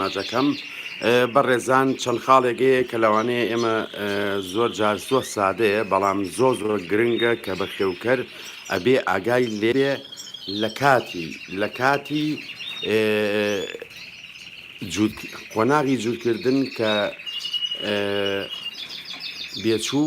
ماجەکەم بە ڕێزان چەند خاڵێگەیە کە لەوانەیە ئێمە زۆر جار زۆر سادەیە بەڵام زۆر زۆر گرنگە کە بە خێوکەر ئەبێ ئاگای لێێ لە کاتی لە کاتی قۆناغی جوورکردن کە بێچوو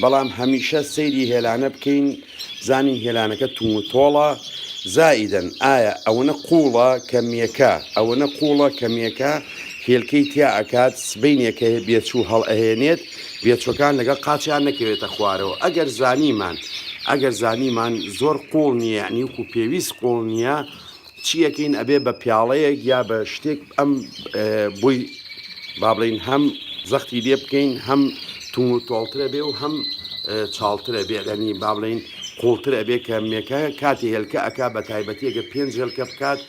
بەڵام هەمیشە سەیری هێلانە بکەین بزانین هێلانەکە توم و تۆڵە زائیدەن ئایا ئەوەنە قوڵە کەمیەکە ئەوەنە قوڵە کەمیەکە هێلکەی تیا ئەکات سبینێکە هەیە بێچوو هەڵ ئەهێنێت بێچەکان لەگەڵ قاچیان نەکەوێتە خوارەوە ئەگەر زانیمان ئەگەر زانیمان زۆر قوڵ نییە نیوکو پێویست قوڵ نییە چی ئەکەین ئەبێ بە پیاڵەیەک یا بە شتێک ئەم بۆی بابلین هەم زەختی لێ بکەین هەم تون و تۆڵترە بێ و هەم چاڵترە بێ لەنی بابلین قوڵتر ئەبێ کە مێکە کاتی هێلکە ئەک بە تایبەتیەکە پێنج هێلکە بکات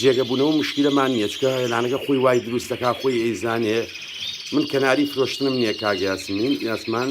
جێگەبوونەوە مشکلەمان نییە چکە هێلانەکە خۆی وای دروستەکە خۆی ئەیزانێ من کەناری فرۆشتنم نییە کاگەیاسمین یاسمان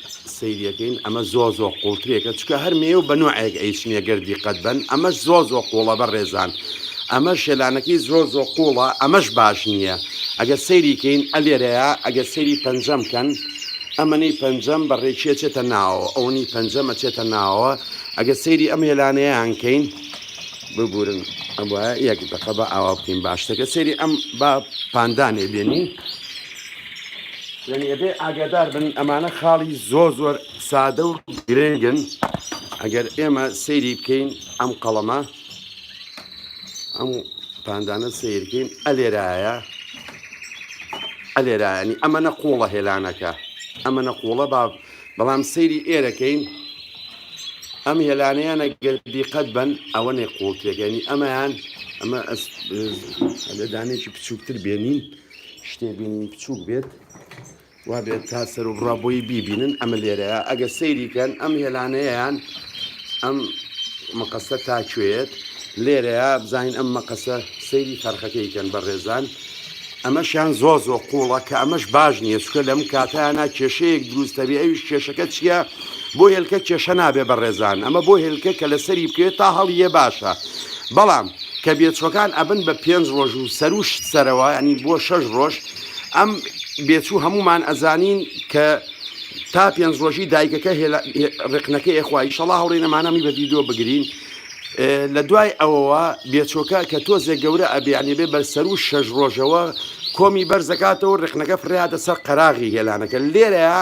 سەیری ئەکەین ئەمە زۆر زۆر قوڵترێکە چکە هەر مێ و بە نوعێک ئەیچنیە گەر دیقەت بن ئەمەش زۆر زۆر قوڵە بە ڕێزان ئەمە شێلانەکەی زۆر زۆر قوڵە ئەمەش باش نییە ئەگەر سەیریکەین ئەلێرەیە ئەگەر سەیری پەنجەم کەن ئەمەنی پەنجەم بە ڕێکیە چێتە ناوە ئەوەنی پەنجەمە چێتە ناوە ئەگەر سەیری ئەم هێلانەیان کەین ببورن ئەبە یەک دقە بە ئاوا بکەین باشتەکە سەیری ئەم با پاندانێ بێنین یعنی ئەبێ ئاگادار بن ئەمانە خاڵی زۆر زۆر سادە و گرنگن ئەگەر ئێمە سەیری بکەین ئەم قەڵەمە ئەم پاندانە سیرکەین ئەلێرایە ئەلێرایانی ئەمە نەقوڵە هێلانەکە ئەمە نەقوڵە با بەڵام سەیری ئێرەکەین ئەم هێلانەیانە گەردی قەت بن ئەوە نێ قوڵتێکەنی ئەمەیان ئەمە دانێکی بچووکتر بێنین شتێ بینین بچووک بێت وابێت تا سەر و بڕا بۆی بیبینن ئەمە لێرەیە ئەگە سەیریکەن ئەم هێلانەیەیان ئەم مەقەسە تاکوێت لێرەیە بزانین ئەم مەقەسە سەیری فەرخەکەیکەن بە ڕێزان ئەمەشیان زۆ زۆ قوڵە کە ئەمەش باش نییە چکە لەم کاتیانە کێشەیەک دروستەبی ئەویش کێشەکە چییە؟ بۆ هێلکە کێشە نابێ بەڕێزان ئەمە بۆ هێلکە کە لەسەری بکەوێت تا هەڵیە باشە بەڵام کە بێچوەکان ئەبن بە پێنج ڕۆژ و سەروشت سەرەوە ینی بۆ شەش ڕۆژ ئەم بێچوو هەمومان ئەزانین کە تا پێنج ڕۆژی دایکەکە ڕقنەکە ئێخوای شەڵا هەڵی نەمانەمی بە ویددیو بگرین لە دوای ئەوەوە بێچۆکە کە تۆزێک گەورە ئەبیانی بێ بەر سەر و شەش ڕۆژەوە کۆمی بەرزەکاتەوە ڕخنەکە فریادە سەر قەراغی هێلانەکە لێرەیە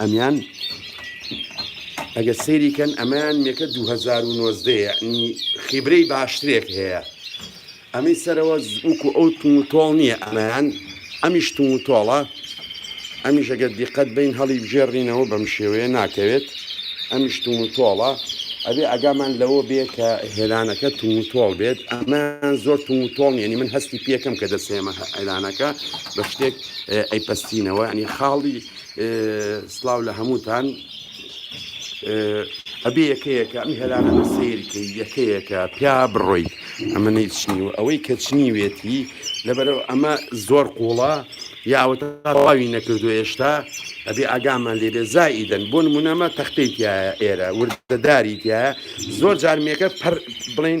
ئەمیان ئەگەر سەیری کەن ئەمەیان یەکە 2009 یعنی خیبرەی باشترێک هەیە ئەمەی سەرەوە وکو ئەو تون و تۆڵ نییە ئەمەیان ئەمیش تون و تۆڵە ئەمیش ئەگەر دیقەت بین هەڵی بژێڕینەوە بەم شێوەیە ناکەوێت ئەمیش تون و تۆڵە ئەبێ ئەگامان لەوە بێ کە هێلانەکە تون و تۆڵ بێت ئەمە زۆر تون و تۆڵ نیەنی من هەستی پێکەم کە دەسێمە هەلانەکە بە شتێک ئەیپەستینەوە ینی خاڵی سلااو لە هەمووتان ئەبێ یەکەیەکە ئەم هێرانە بە سیرکە یەکەیەکە پیا بڕۆیت ئەمە نەیچنی و ئەوەی کەچنی وێتی لەبەرەوە ئەمە زۆر قوڵە یاوەتە تاواوی نەکردو هێشتا ئەبێ ئاگامان لێبێ زائیدەن بۆ نمونەمە تەختەی تایە ئێرە وردەداری تایە زۆر جارمێکە پەر بڵین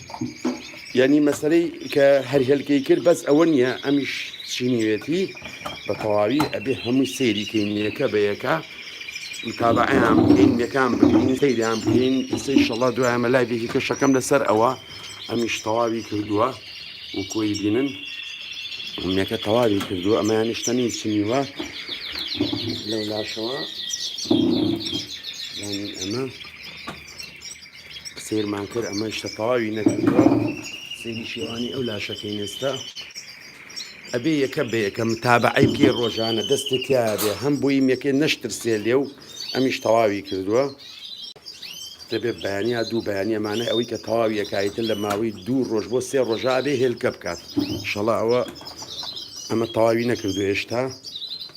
یانی مەسەرەی کە هەر هێلکەی کرد بەس ئەوە نییە ئەمیش چینیوێتی بە تەواوی ئەبێ هەموو سەیری کەینیەکە بەیەکە متابعیان بکەین یەکان بکەین سەیریان بکەین ئستی شەڵا دوایمە لای بێکی کەشەکەم لەسەر ئەوە ئەمیش تەواوی کردووە و کۆی بینن ئەمەکە تەواوی کردووە ئەمەیان نیشتەنی چنیوە لەولاشەوە ینی ئەمە سەیرمان کرد ئەمە شتە تەواوی نەکردوە سەیری شێوانی ئەو لاشەکەی نێستا ئەبێ یەکە بە یەکە متابعی بکە ڕۆژانە دەستێ تیاێ هەم بووی یەکێ نەشترسێ لێ و ئەمیش تەواوی کردووە دەبێت بەیانیا دوو بەیانیەمانە ئەوەی کە تەواویەکایتە لە ماوەی دوو ڕۆژ بۆ سێ ڕۆژابێ هێلکە بکات شەڵا ئەوە ئەمە تەواوی نەکردو هێشتا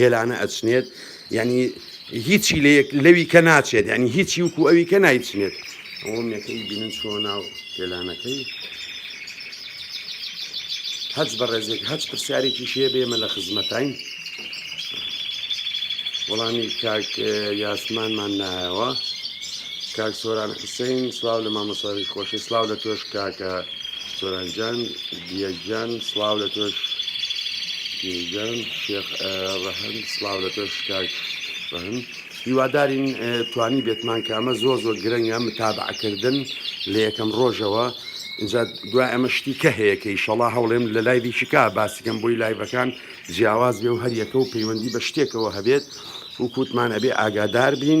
هێلانە ئەچنێت یانی هیچی لەیەک لەوی کە ناچێت ینی هیچی وکو ئەوی کە نایچنێت ئەوەمەکەی بینن چوە ناو هێلانەکەی هەچ بەڕێزێک هەچ پرسیارێکی شێ بێمە لە خزمەتین وەڵامی کاک یاسمانمان نایەوە کاک سۆران حسین سلااو لە مامەساوی خۆشی سلااو لە تۆش کاکە سۆران جان دیە گیان سڵاو لە تۆش گیان شێخ ڕەهند سڵاو لە تۆش کاک ڕەهند هیوادارین توانی بێتمان کە ئەمە زۆر زۆر گرنگە متابعکردن لە یەکەم ڕۆژەوە اینجا دوای ئەمە شتی کە هەیەکە ئیشەڵا هەوڵێم لە لای دیشکا باسیکەم بۆی لایڤەکان جیاواز بێ و هەریەکە و پەیوەندی بە شتێکەوە هەبێت و کووتمان ئەبێ ئاگادار بین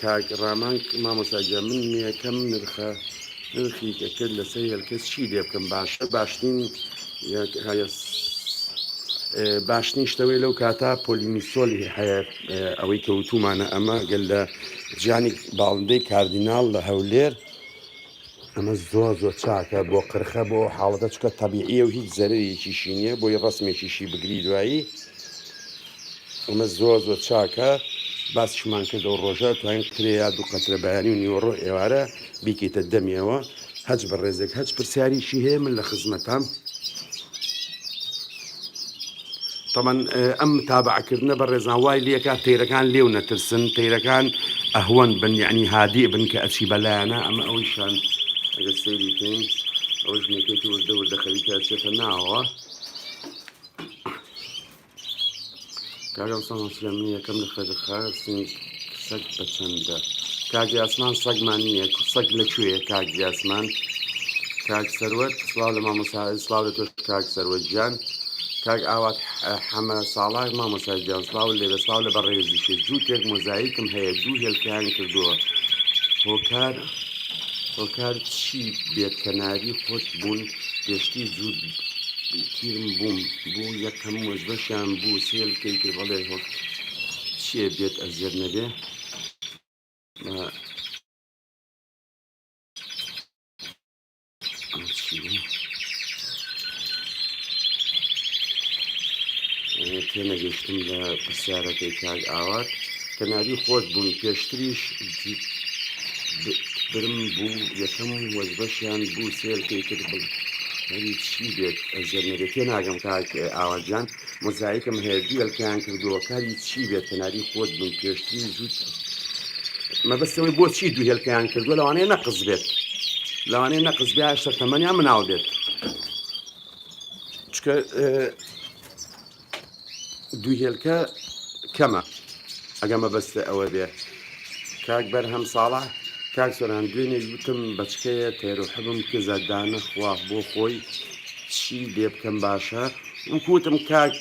کاک ڕامان مامۆستا گیان من نوێکەم نرخە نرخی دەکرد لەسەر هێلکەس چی لێ بکەم باشە باشترین باشترین شتەوەی لەو کاتا پۆلینیسۆلی هەیە ئەوەی کەوتومانە ئەمە گەل لە جیانی باڵندەی کاردیناڵ لە هەولێر ئەمە زۆر زۆر چاکە بۆ قرخە بۆ ئەو حاڵەتە چکە تەبیعیە و هیچ زەرەرێکیشی نییە بۆی ڕسمێکیشی بگری دوایی ئەمە زۆر زۆر چاکە باسیشمان کردە و ڕۆژە توانین قرێ یا دوو قەترە بەیانی و نیوەڕۆ ئێوارە بیکەیتە دەمیەوە هەچ بە ڕێزێک هەچ پرسیاریشی هەیە من لە خزمەتام. تەبعەن ئەم متابەعە کردنە بەڕێزان وای لێکا تەیرەکان لێو نەترسن تەیرەکان ئەهوەن بن یعنی هادی بن کە ئەچی بەلایەنە ئەمە ئەوەی شان ئەگە سەیری بکەین ئەوە ژنەکەی وردە وردە خەریکە چێتە ناوە کاکە ڕوستەم هەوسلە من یەکەم لە خوێدە خاستین سەگ بە چەندە کاک یاسمان سەگمان نییە سەگ لە کوێیە کاک یاسمان کاک سەروەت سلااو لە مامۆسا سلااو لە تۆش کاک سەروەت گیان کاک ئاوات حەمە ساڵاک مامۆسای گیان سلااو لێ بە سلااو لە بەڕێزی شێ جووتێک مۆزایکم هەیە دوو هێلکەیان کردووە هۆکار هۆکار چی بێت کەناری خۆت بوون پێشتی زود تیرم بووم بۆ یەکەم وەزبەشیان بوو سێل کەی کرد بەڵێ هۆک چێ بێت ئەزیەت نەبێ تێنەگەشتم لە پرسیارەکەی کاک ئاوات کەناری خۆت بوون پێشتریش برم بوو یەکەم وەزبەشیان بوو سێر پێی کرد بڵ هەری چی بێت ئەزیەت نەبێت تێ ناگەم کاک ئاواجان مۆزایکم هەیە دوێلکەیان کردووە کاری چی بێت کەناری خۆت بوون پێشتری زود مەبەستەوەی بۆچی دوو هێلکەیان کردووە لەوانەیە نەقز بێت لەوانەیە نەقز بێ هەشتا تەمەنیان مناڵ بێت چکە دوو هێلکە کەمە ئەگە مەبەستە ئەوە بێ کاک بەر هەم ساڵە کاک سۆران دوێنێ گوتم بەچکەیە تێرو حبم کزە دانە خوا بۆ خۆی چی لێ بکەم باشە وکوتم کاک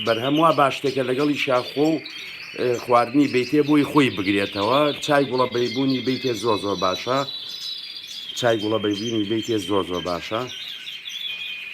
بەرهەم وا باشتێکە لەگەڵی شاخۆ و خواردنی بیتێ بۆی خۆی بگرێتەوە چای گوڵە بەیبوونی بیتێ زۆر زۆر باشە چای گوڵە بەیبوونی بیتێ زۆر زۆر باشە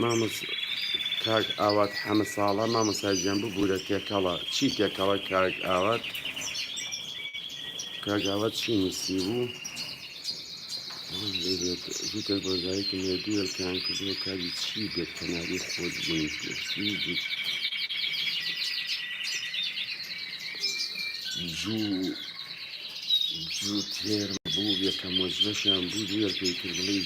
مامۆس کاک ئاوات حەمە ساڵە مامۆساجیان ببوورە تێکەڵە چی تێکەڵە کاک ئاوات کاگاوات چی نووسی بوو جوتە بۆزایکم لە دوێلکان کردووە کاری چی بێت کەناری خۆت بووی جوو جوو تێر بوو یەکە مۆجلەشیان بوو دوێر پێی کرد بڵی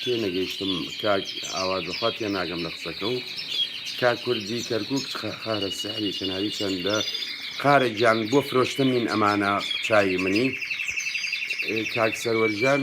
تێ نەگەیشتم کاک ئاوا دەخوا تێ ناگەم لە قسەکە و کا کوردی کەرکک خارە سەحری کەناوی چەندە قارە گیان بۆ فرۆشتن نین ئەمانە چای منی کاک سەروەرژان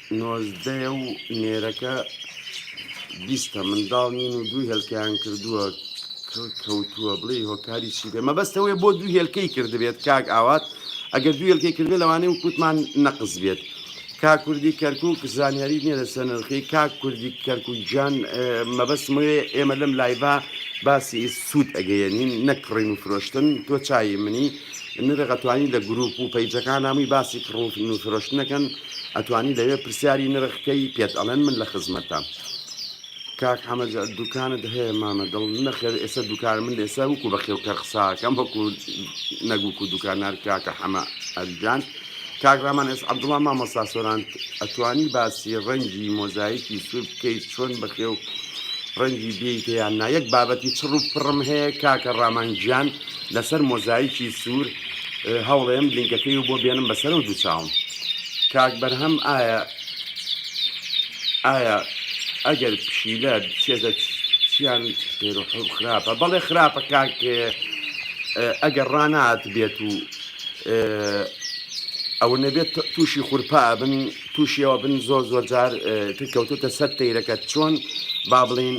نۆزدەیە و نێرەکە بیستە منداڵ نین و دوو هێلکەیان کردووە کڕ کەوتووە بڵێ هۆکاری چی بێ مەبەستەوەی بۆ دوو هێلکەی کردبێت کاک ئاوات ئەگەر دوو هێلکەی کردێت لەوانەیە و کووتمان نەقز بێت کا کوردی کەرکک زانیاری نیە لەسەر نرخی کا کوردی کەرکک گیان مەبەستمەوێ ئێمە لەم لایڤە باسی سوود ئەگەیەنین نەکڕین و فرۆشتن تۆ چای منی نرەغەتوانی لە گروپ و پەیجەکان نامی باسی کڕوفن و فرۆشتنەکەن ئەتوانی لەوێ پرسیاری نرخ کەی پێت ئەڵێن من لە خزمەتام. کاک حەمە جا دوکانت هەیە مامە دڵ نەخێر ئێستا دوکان من ئێستا وکو بە خێوکەر قساکەم وەکو نەگوکو دوکانار کاکە حەمە ئەرجان کاک ڕامان ئێس عەبدوڵا مامۆستا سۆران ئەتوانی باسی ڕەنگی مۆزایکی سوور بکەیت چۆن بە خێو ڕەنگی بێیتیان نا یەک بابەتی چڕ و پڕم هەیە کاکە ڕامان گیان لەسەر مۆزایکی سوور هەوڵێم لینکەکەی بۆ بێنم بەسەرەو دوو چاوم کاک بەرهەم ئایا ئایا ئەگەر پشیلە بچێتە چیان پێرو حەو خراپە بەڵێ خراپە کاک ئەگەر ڕانات بێت و ئەوە نەبێت تووشی خورپا بن توشی ئەوە بن زۆر زۆر جار تر کەوتوتە سەر تەیرەکە چۆن با بڵین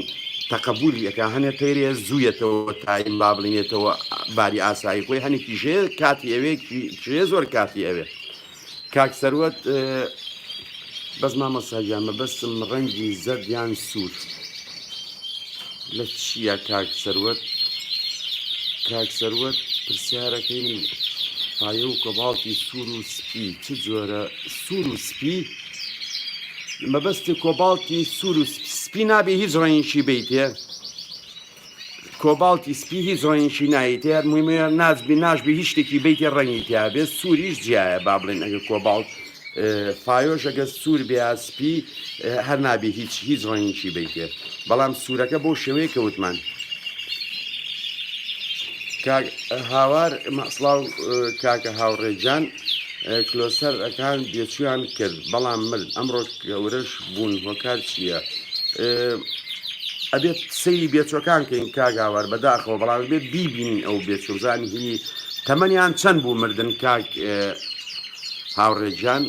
تەقبولی ئەەکە هەنێ تەیرێ زوویەتەوە تایم با بڵینێتەوە باری ئاسایی خۆی هەنی کیژێ کاتی ئەوێ کێ زۆر کاتی ئەوێ کاک سەروەت بەس مامە ساگیان مەبەستم ڕەنگی زەردیان سوور. لە چییە کاک سەروەت کاک سەروەت پرسیارەکەی من پایە و کۆباڵتی سوور و سپی چ جۆرە سوور و سپی مەبەستی کۆباڵتی سوور و سپی نابێ هیچ ڕەنگشی بیتێ کۆباڵتی سپی هیچ ڕەنگشی نایتێ هەر مهمە نازبی ناشبی هیچ شتێکی بیتێ ڕەنگی تیاابێت سووریش جیایە با بڵێن ئەگە کۆباڵت پایۆش ئەگەر سوور بێ یا سپی هەر نابێ هیچ هیچ ڕەنگیکی بیتێ بەڵام سوورەکە بۆ شێوەیە کەوتمان هاوار مەسڵاو کاکە هاوڕێجان کلۆسەر ئەکان بێچویان کرد بەڵام مرد ئەمڕۆ گەورەش بوون هۆکار چییە؟ ئەبێت سەیری بێچۆکان کەین کاگاوار بەداخەوە بەڵام بێت بیبینین ئەو بێچۆزانی هی تەمەنیان چەند بوو مردن کاک هاوڕێ گیان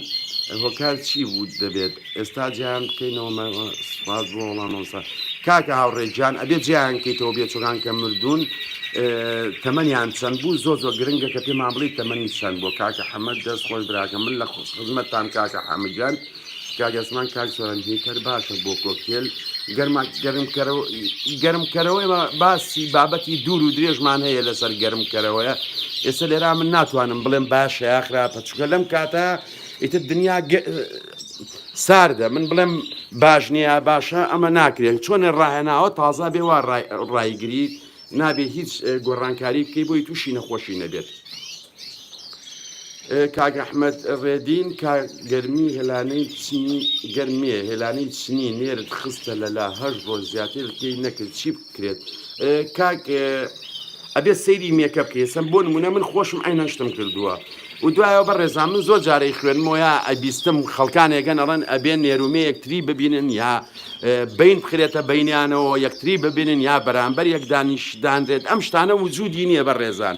هۆکار چی بوو دەبێت ئێستا جیان بکەینەوە سپاس بۆ وەڵام مامۆستا کاکە هاوڕێ گیان ئەبێ جیان کەیتەوە بێچۆگان کە مردوون تەمەنیان چەند بوو زۆ زۆ گرنگە کە پێمان بڵی تەمەنی چەند بۆ کاکە حەمە دەست خۆش براکە من لە خزمەتتان کاکە حەمەگیان کاک ئەسمان کاک سۆران هیتەر باشە بۆ کۆکتێل گەرما گەرمکەرەوە گەرمکەرەوەی باسی بابەتی دوور و درێژمان هەیە لەسەر گەرمکەرەوەە ئێستا لێرا من ناتوانم بڵێم باشە یاخراپە چکە لەم کاتە ئیتر دنیا ساردە من بڵێم باش نییە باشە ئەمە ناکرێت چۆنە ڕاهێناوە تازا بێ وا ڕایگری نابێ هیچ گۆڕانکاری بکەی بۆی تووشی نەخۆشی نەبێت کاک ئەحمەد ڕێدین کا گەرمی هێلانەی چنی گەرمێ هێلانەی چنی نێرت خستە لەلا هەش ڕۆژ زیاتر پێی نەکرد چی بکرێت کاک ئەبێ سەیری مێکە بکەیسم بۆ نمونە من خۆشم ئەینە شتم کردووە و دوایەوە بە ڕێزان من زۆر جارەی خوێنمۆە ئەبیستم خەڵکانێکگەن ئەڵەن ئەبێ نێرومێ یەکتری ببینن یا بین بخرێتە بینیانەوە یەکتری ببینن یا بەرامبەر یەکدانیشدانرێت ئەم شتانە وجودی نییە بە ڕێزان.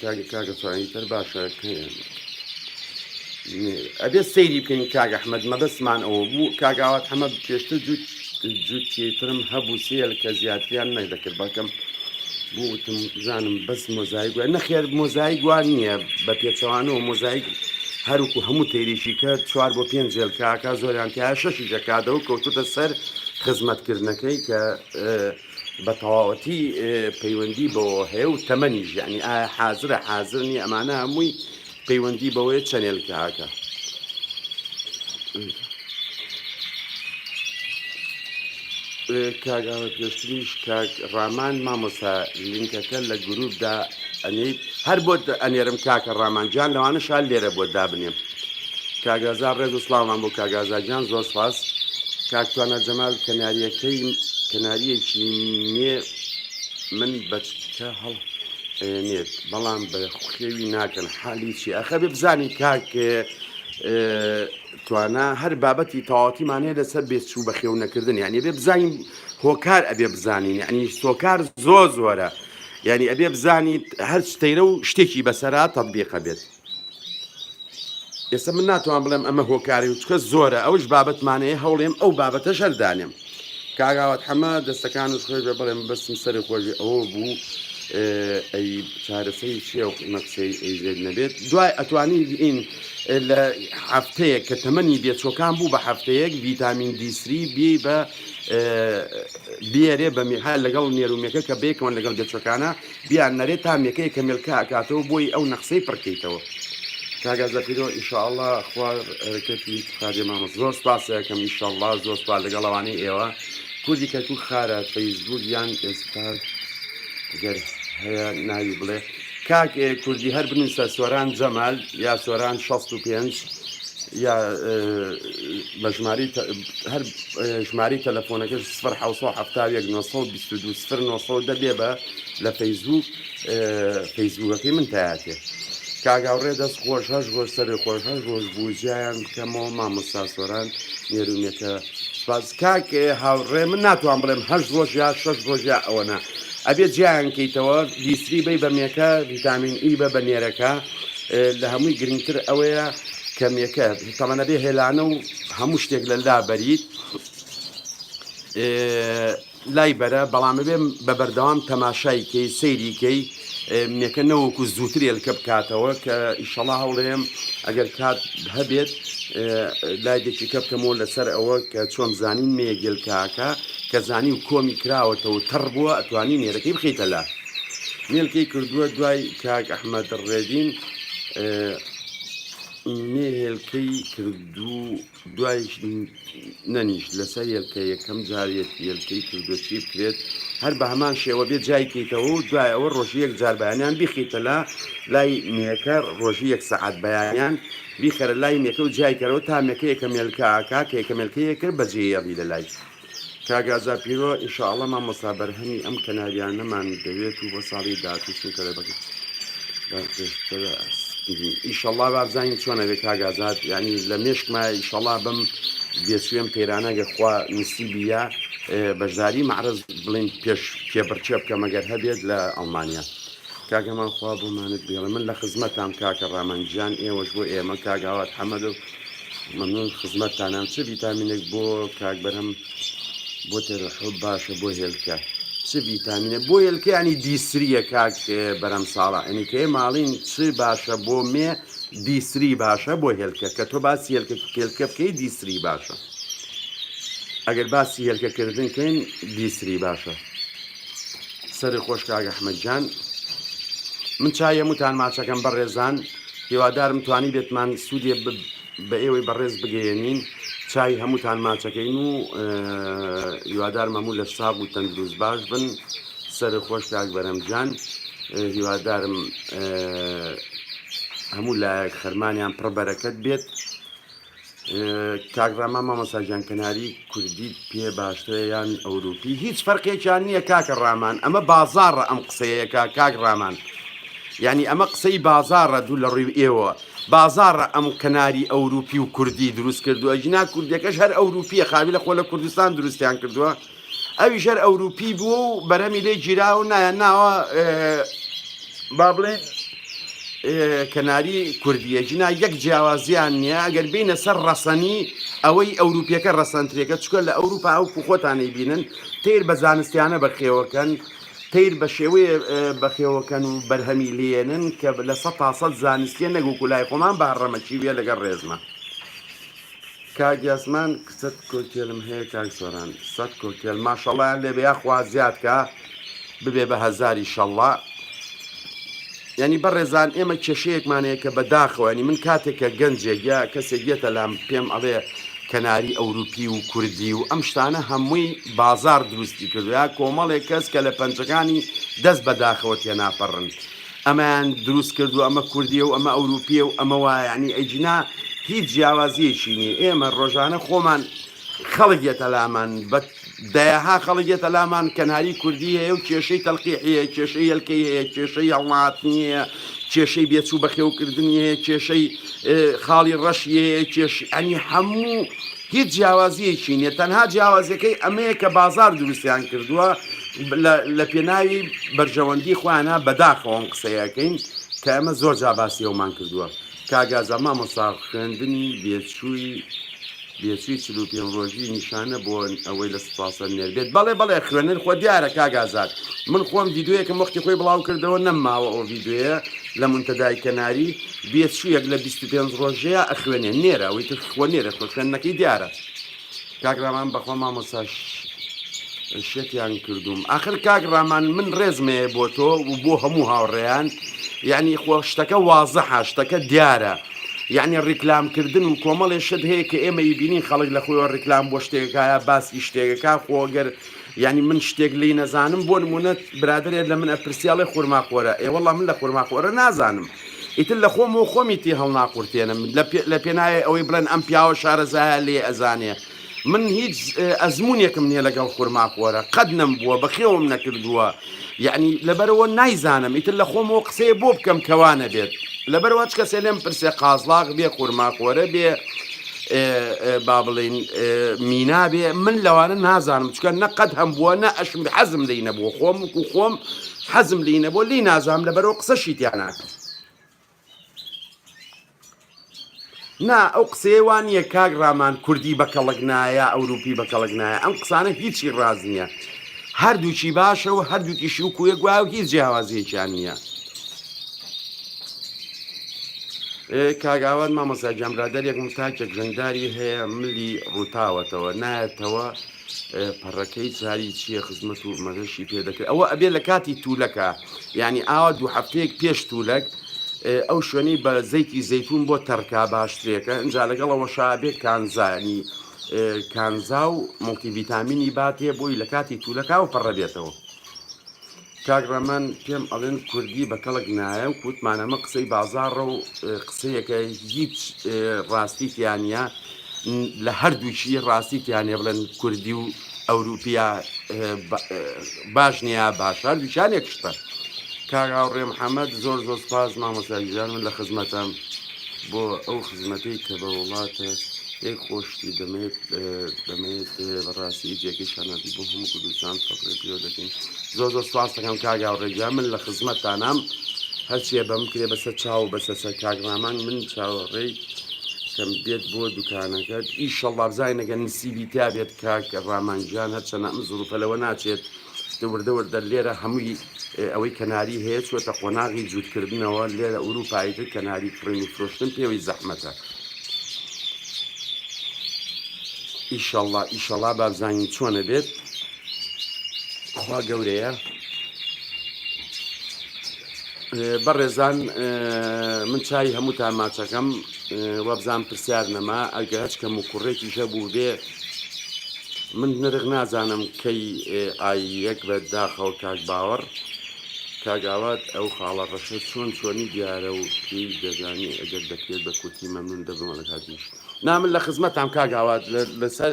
کاگە کاگە سوانی تر باشە ئەبێت سەیری بکەین کاگە حمەد مەبەستمان ئەوە بوو کاگاوات حەمە پێشتر جووت جووتێترم هەبوو سێل کە زیاتریان نەدەکرد بەکەم بوتم زانم بەس مۆزایک وە نەخێر مۆزایک وان نییە بە پێچەوانەوە مۆزایک هەروکو هەموو تێریشی کە چوار بۆ پێنج جێلکاکە زۆریان تیا شەشی جەکاتەوە کەوتوتە سەر خزمەتکردنەکەی کە بە تەواوەتی پەیوەندی بەوە هەیە و تەمەنیش یعنی ئایا حازرە حازر نیە ئەمانە هەمووی پەیوەندی بەوەیە چەنێلکەکە کاگاوە پێشتریش کاک ڕامان مامۆسا لینکەکە لە گروپدا ئەنیت هەر بۆت ئەنێرم کاکە ڕامانجان لەوانە شال لێرە بۆ دابنێم کاک ئازا ڕێز و سڵاومان بۆ کاک ئازا گیان زۆر سپاس کاک توانا جەمال کەناریەکەی کەناریەکی مێ من بەچکە هەڵ نێت بەڵام بە خوێوی ناکەن حالی چی ئەخە بێ بزانی کاک توانا هەر بابەتی تەواوتیمان هەیە لەسەر بێچوو بە خێو نەکردن یعنی بێ بزانین هۆکار ئەبێ بزانین یعنی سۆکار زۆر زۆرە یعنی ئەبێ بزانیت هەر شتەیرە و شتێکی بەسەرا تەبیقە بێت ئێستا من ناتوان بڵێم ئەمە هۆکاری و چکە زۆرە ئەوش بابەتمانەیە هەوڵێم ئەو بابەتە شەردانێم کاگاوات حەمە دەستەکان و خۆش بێ بڵێم بەسم سەری خۆشی ئەوە بوو ئەی چارەسەری چیە و قیمە قسەی ئەیزێت نەبێت دوای ئەتوانی ئین لە هەفتەیەک کە تەمەنی دێچۆکان بوو بە هەفتەیەک ڤیتامین دیسری بی بە بێرێ بە میحال لەگەڵ نێرومێکە کە بێکەوەن لەگەڵ دێچەکانە بیان نەرێ تا مێکەیە کە مێلکە ئەکاتەوە بۆیی ئەو نەقسەی پڕ کەیتەوە. کاک ئازاد پیرۆ ئیشاڵا خوا رکەتی بخاتێ مامە زۆر سپاسە کەم ئیشەڵا زۆر سوپاس لەگەڵ ئەوانەی ئێوە کوردی کەرکوک خارە فەیسبوک یان ئێستاش گەر هەیە ناوی بڵێ کاک کوردی هەر بنووسە سۆران جەمال یا سۆران 65 یا بە ژمارەی تە هەر ژمارەی تەلەفۆنەکەش سفر حەوت سەد و حەفتا و یەک نۆ سەد و بیست و دوو سفر نۆ سەد و دە بێ بە لە فەیسبووک فەیسبووکەکەی من تایاتێ کاگاوڕێ دەست خۆش هەش ڕۆژ سەرێ خۆش هەش ڕۆژ بوو جیایان بکەمەوە مامۆستا سۆران نێرونێکە سپاس کاک هاوڕێ من ناتوان بڵێم هەش ڕۆژ یا شەش ڕۆژ یا ئەوەنە ئەبێ جیایان کەیتەوە دیسری بی بە مێکە ڤیتامین ئی بە بە نێرەکە لە هەمووی گرنگتر ئەوەیە کەمێکە تەمەنە بێ هێلانە و هەموو شتێک لە لا بەریت لای بەرە بەڵام بێ بە بەردەوام تەماشای کەی سەیری کەی منەکە نەوەکو زووتر ێلکە بکاتەوە کە ئیشەڵا هەوڵێم ئەگەر کات هەبێت لای دەکیکە بکەمەوە لەسەر ئەوە کە چۆم زانین مێ گێلکاکە کە زانی و کۆمی کراوەتەوە تەڕ بووە ئەتوانی نێرەکەی بخیتە لە مێلکەی کردووە دوای کاک ئەحمەد ڕێدین مێ هێلکەی کردو دوای نەنیشت لەسەر هێلکە یەکەم جارێت هێلکەی کردو چی بکرێت هەر بە هەمان شێوە بێ جای کەیتەوە و دوای ئەوە ڕۆژی یەک جار بەیانیان بیخیتە لە لای مێەکە ڕۆژی یەک سەعات بەیانیان بیخەرە لای مێەکە و جیایکەرەوە تا مێەکە یەکە مێلکەکە کە یەکە مێلکەیەکە بەجێ یاڕی لە لای کاک ئازا پیرۆ ان شاء اللە مامۆستا بەرهەمی ئەم کەناریانەمان دەوێت و بۆ ساڵی داهاتوو چونکە لە بەکر ئیشەڵا بابزانین چۆنە بێ کاگازات یعنی لە مێشکما ئیشەڵا بم بێچێم پەیرانە گەرخوا نسیبی یا بەشداری معرز بڵین پێش کێبڕچێ بکەمەگەر هەبێت لە ئەڵمانیا کاگەمان خوا بۆمانت بێڵێ من لە خزمەتام کاکە ڕامانگیان ئێوەش بۆ ئێمە کاگاوات حەمەدە و مەمنون خزمەتتانم چ ڤیتامینێک بۆ کاک بەرهەم بۆ تێرەحب باشە بۆ هێلکە چ ڤیتامینە بۆ هێلکەیانی دیسریە کاک بەرەم ساڵە ئەنی کەێ ماڵین چ باشە بۆ مێ دیسری باشە بۆ هێلکە کە تۆ باسی هێلکە کێلکە بکەی دیسری باشە ئەگەر باسی هێلکەکردن کەین دیسری باشە سەری خۆش کاک ئەحمەد جان من چای هەمووتان ماچەکەم بەڕێزان هیوادارم توانی بێتمان سوودێ بە ئێوەی بەڕێز بگەیەنین چای هەمووتان ماچەکەین و هیوادار مەموو لە ساغ و تەندروست باش بن سەر خۆش کاک بەرەمجان هیوادارم هەموو لایەک خەرمانیان پڕبەرەکەت بێت کاک ڕەما مامۆستا گیان کەناری کوردیت پێ باشترە یان ئەوروپی هیچ فەرقێکیان نییە کاکە ڕامان ئەمە بازاڕە ئەم قسەیەکە کاک ڕامان یعنی ئەمە قسەی بازاڕە دوو لە ڕووی ئێوە بازاڕە ئەم کەناری ئەوروپی و کوردی دروست کردووە جنا کوردەکەش هەر ئەوروپیە خاوی لە خۆ لە کوردستان دروستیان کردووە ئەویش هەر ئەوروپی بووە و بەرەمی لێ گیرا و نایان ناوە با بڵێن کەناری کوردیە جنا یەک جیاوازیان نییە ئەگەر بینە سەر ڕەسەنی ئەوەی ئەوروپیەکە ڕەسەنترێکە چکە لە ئەوروپا ئەو کوخۆتانەی بینن تیر بە زانستیانە بەخێوەکەن تیر بە شێوەیە بەخێوەکەن و بەرهەمی لێنن کە لە سە تاسەد زانستیە نەگو کولای خۆمان بە ڕەمەکی وێ لەگەڵ ڕێزمە. کاک یاسمان کچەت کۆکێلم هەیە کاک سۆران سەد کۆکێل ماشەڵیان لێ بیا خوا زیاد کە ببێ بە هەزاری شەڵڵا ینی بەڕێزان ئێمە کێشەیەکمانەیە کە بەداخەوەنی من کاتێک کە گەنجێک یا کەسێک یەتە لام پێم ئەڵێ کەناری ئەوروپی و کوردی و ئەم شتانە هەمووی بازار دروستی کردوە کۆمەڵێک کەس کە لە پەنجەکانی دەست بەداخەوە تێناپەڕن ئەمەیان دروست کردوە ئەمە کوردیە و ئەمە ئەوروپیە و ئەمە وایە یەعنی ئەیجنا هیچ جیاوازیەکی نیە ئێمە ڕۆژانە خۆمان خەڵک یەتە لامان بە دەیەها خەڵک یەتە لامان کەناری کوردی هەیە و کێشەی تەلقیحیە کێشەی هێلکەی هەیە کێشەی هەڵناتنی هەیە کێشەی بێچوو بەخێوکردنی هەیە کێشەی خاڵی ڕەشی هەیە کێش ئەنی هەموو هیچ جیاوازییەکی نییە تەنها جیاوازیەکەی ئەمەیە کە بازار دروستیان کردووە لە پێناوی بەرژەوەندی خۆیانە بەداخەوەم قسەیەکەین کە ئەمە زۆر جاباسی ئەومان کردووە کاگازە مامۆسا خوێندنی بێچووی بێچووی چل و پێنج ڕۆژی نیشانە بۆ ئەوەی لە سپاسە نێر بێت بەڵێ بەڵێ خوێنەر خۆ دیارە کاگازات من خۆم یددیوەکەم وەختی خۆی بڵاو کردەوە نەمماوە ئەو یددیوەیە لە منتەدای کەناری بێچوویەک لە 25 ڕۆژەیە ئەخوێنێ نێرە ئەوەی تر خۆ نێرە خۆ خوێندنەکەی دیارە کاک ڕامان بەخۆ مامۆستا شتیان کردوم ئاخر کاک ڕامان من ڕێزمەیە بۆ تۆ و بۆ هەموو هاوڕێیان یعنی خۆ شتەکە وازە هاشتەکە دیارە یعنی ڕیکلامکردن و کۆمەڵێ شت هەیە کە ئێمە یبینی خەڵک لە خۆیەوە ڕیکلام بۆ شتێکەکایە باسی شتێکەکە خۆگەر یانی من شتێک لی نەزانم بۆ نمونە برادێت لە من ئەپرسیاڵێ خورماخۆرە ئێوەڵام من لە خورماخۆرە نازانم ئیتر لە خۆم و خۆمی تی هەڵناقورتێنم لە پێناوی ئەوەی بڵێن ئەم پیاوە شارەزایە لێ ئەزانێ من هیچ ئەزمونێکم نییە لەگەڵ خورماخۆرە قەت نەم بووە بەخێوم نەکردووە یەعنی لەبەرئەوە نایزانم ئیتر لە خۆمەوە قسەیە بۆ بکەم کەوا نەبێت لەبەروا چ کەسێ لێم پرسێ قازڵاغ بێ خورماخۆرە بێ با بڵین مینابێ من لەوانە نازانم چکە نەقەت هەم بووە نە ئەشم حەزم لی نەبووە خۆم و خۆم حەزم لی نەبوو لی نازام لە بەرەوە قسە شیتیان ناکەم نا ئەو قسەیە وا نییە کاک ڕامان کوردی بە کەڵک نایە ئەوروپی بە کەڵک نایە ئەم قسانە هیچی ڕاز نییە هەردووکی باشە و هەردووکیشی و کوێک وایە و هیچ جیاوازیەکیان نییە کاگاوان مامۆسا جامرادەرێک متاکێک ژەنداری هەیە ملی ڕووتاوەتەوە نایەتەوە پەڕەکەی چاری چییە خزمەت و مەزەشی پێ دەکرێت ئەوە ئەبێ لە کاتی تولەکە یانی ئاوا دوو هەفتەیەک پێش تولەک ئەو شوێنەی بە زەیتی زەیتون بۆ تەرکا باشترێکە ئەجا لەگەڵەوە شابێ کانزانی کانزا و مڵتیڤیتامینی باتێ بۆی لە کاتی تولەکا و پەڕە بێتەوە کاگڕەمان پێم ئەڵێن کوردی بە کەڵک نایە و کووتمانەمە قسەی بازاڕە و قسەیەکە هیچ ڕاستی تیانە لە هەردووچی ڕاستی تیانێ بڵێن کوردی و ئەوروپیا باش نیا باشە دوچانێک شتە کاراوڕێ محەممەد زۆر زۆر سپاس مامۆساگیزان من لە خزمەتەم بۆ ئەو خزمەتەی کە بە وڵاتە یەک خۆشتی دەمێت دەمێت بەڕاستی جێکی شانازی بۆ هەموو کوردستان فەقری پێوە دەکەین زۆر زۆر سپاس دەکەم کاگاوڕێگیان من لە خزمەتتانام هەرچیە بەم کرێ بەسەر چاو بەسەر سەر کاگڕامان من چاوەڕێی کەم بێت بۆ دوکانەکەت ئیشەڵ بابزای نەگەن نسیبی تا بێت کاک ڕامان گیان هەرچەنە ئەم زوروفە لەوە ناچێت دە وردە وردە لێرە هەمووی ئەوەی کەناری هەیە چۆتە قۆناغی جووتکردنەوە لێرە ئوروپایی تر کەناری کڕین و فرۆشتن پێوەی زەحمەتە ئیشەڵا ئیشەڵا بابزانین چۆنە بێت خوا گەورەیە بەڕێزان من چای هەمووتان ماچەکەم وابزانم پرسیار نەما ئەگە هەچ کەم و کوڕێکیش هەبوو بێ من نرخ نازانم کەی ئای یەک بە داخەوە کاک باوەڕ کاگاوات ئەو خاڵە ڕەشە چۆن چۆنی دیارە و پێی دەزانی ئەگەر دەکرێت بە کورتی مەمنون دەبمەڵ هەردیش نامن لە خزمەتان کاگاوات لەسەر